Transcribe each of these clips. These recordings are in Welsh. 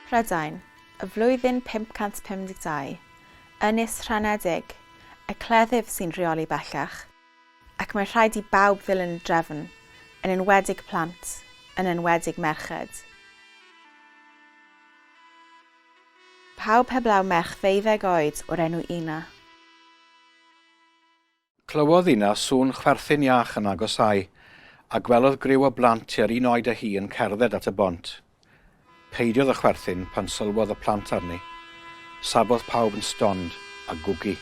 Prydain, y flwyddyn 552, ynys rhanedig, y cleddyf sy'n rheoli bellach, ac mae rhaid i bawb ddilyn y drefn, yn enwedig plant, yn enwedig merched. Pawb heblaw merch ddeuddeg oed o'r enw Ina. Clywodd Ina sŵn chwerthin iach yn agosáu, a gwelodd griw o blant tua'r un oed â hi yn cerdded at y bont. Peidiodd â chwerthin pan sylwodd y plant arni. Safodd pawb yn stond a gwgu.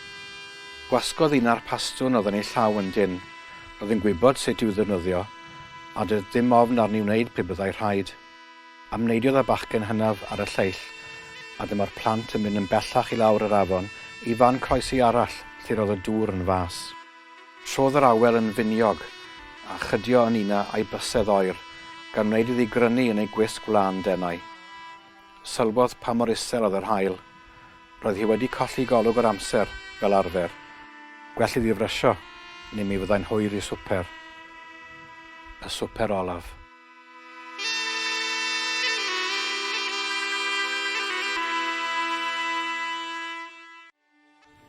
Gwasgodd Ina'r pastwn oedd yn ei llaw yn dynn. Roedd yn gwybod sut i'w ddefnyddio, a doedd dim ofn arni wneud pe byddai rhaid. Amneidiodd y bachgen hynaf ar y lleill, a dyma'r plant yn mynd yn bellach i lawr yr afon i fan croesi arall lle roedd y dŵr yn fas. Trodd yr awel yn finiog, a chydio yn una a'i bysedd oer, gan wneud iddi grynu yn ei gwisg wlân denau. Sylwodd pa mor isel oedd yr haul. Roedd hi wedi colli golwg yr amser, fel arfer. Gwell iddi frysio, neu mi fyddai'n hwyr i swper. Y swper olaf.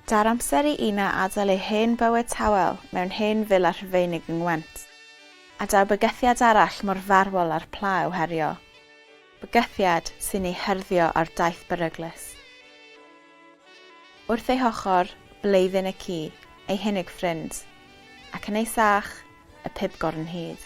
Daw'r amser i Ina adael ei hen bywyd tawel mewn hen fila Rhufeinig yng Ngwent. A daw bygythiad arall mor farwol â'r pla i'w herio. Bygythiad sy'n ei hyrddio ar daith beryglus. Wrth ei hochr, Bleidyn y ci, ei hunig ffrind, ac yn ei sach, y pibgor yn hud.